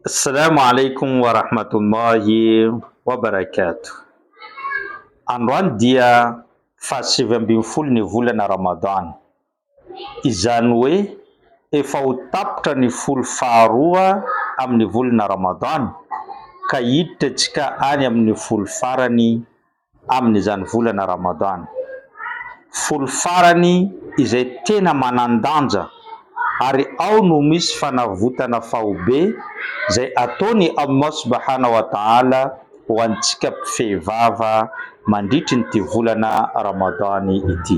Assalamu alaikum wa rahmatullahi wa barakatuh. Androany dia fahasivy ambin'ny folo ny volana Ramadan. Izany hoe efa ho tapitra ny folo faharoa amin'ny volana Ramadan ka hiditra isika any amin'ny folo farany amin'izany volana Ramadan, folo farany izay tena manan-danja ary ao no misy fanavotana faobe izay ataon'i Allah subahana wa ta'ala ho antsika mpifehy vava mandritrin'ity volana Ramadan ity.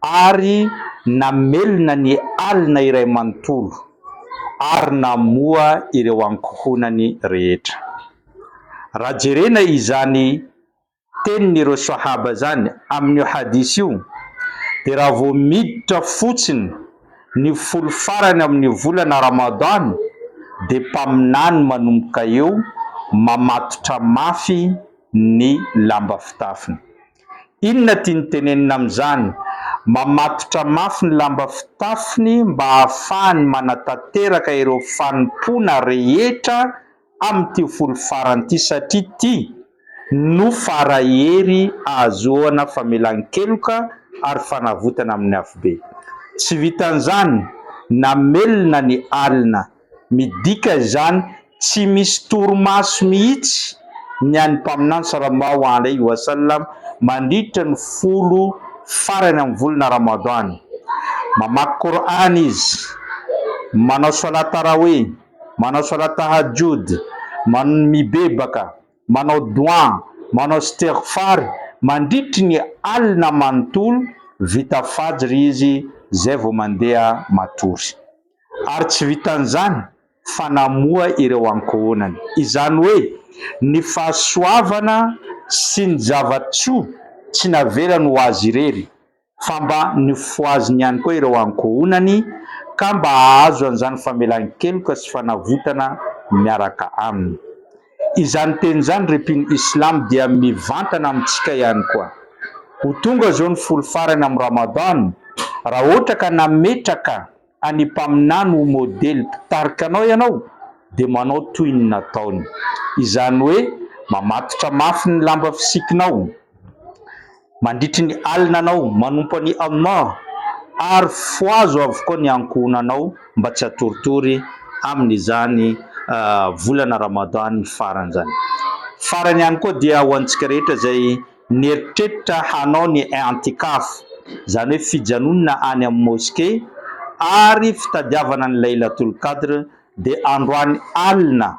ary namelona ny alina iray manontolo, ary namoha ireo ankohonany rehetra. Raha jerena izany tenin'ireo Swahaba izany amin'io hadith io, dia raha vao miditra fotsiny ny folo farany amin'ny volana Ramadan, dia mpaminany manomboka eo mamatotra mafy ny lamba fitafiny. Inona tiany tenenina amin'izany? Mamatotra mafy ny lamba fitafiny mba hahafahany manatanteraka ireo fanompoana rehetra amin'ity folo farany ity satria ity no fara-hery ahazoana famelan-keloka ary fanavotana amin'ny afobe. Tsy vitan'izany, namelona ny alina. Midika izany tsy misy torimaso mihitsy ny an'ny Mpaminany Salamau Alaihi Wasallam mandritra ny folo farany amin'ny volana Ramadan. Mamaky Kor'any izy, manao Salat Tarawih, manao Salat Tahajjud, man mibebaka, manao Dua, manao Istighfar mandritry ny alina manontolo, vita Fajr izy izay vao mandeha matory. ary tsy vitan'izany fa namoha ireo ankohonany. Izany hoe ny fahasoavana sy ny zava-tsoa tsy navelany ho azy irery fa mba nifohaziny ihany koa ireo ankohonany ka mba hahazo an'izany famelan-keloka sy fanavotana miaraka aminy. Izany teny izany ry mpino Islam dia mivantana amintsika ihany koa. Ho tonga izao ny folo farany amin'ny Ramadan, raha ohatra ka nametraka an'i Mpaminany ho modely mpitarika anao ianao dia manao toy ny nataony. Izany hoe mamatotra mafy ny lamba fisikinao. Manditry ny alina anao, manompo an'i Allah, ary fohazo avokoa ny ankohonanao mba tsy hatoritory amin'izany volana Ramadan farany izany. Farany ihany koa dia ho antsika rehetra izay nieritreritra hanao ny i'tikaf, izany hoe fijanonana any amin'ny Mosquée ary fitadiavana ny Laylatul Qadr dia androany alina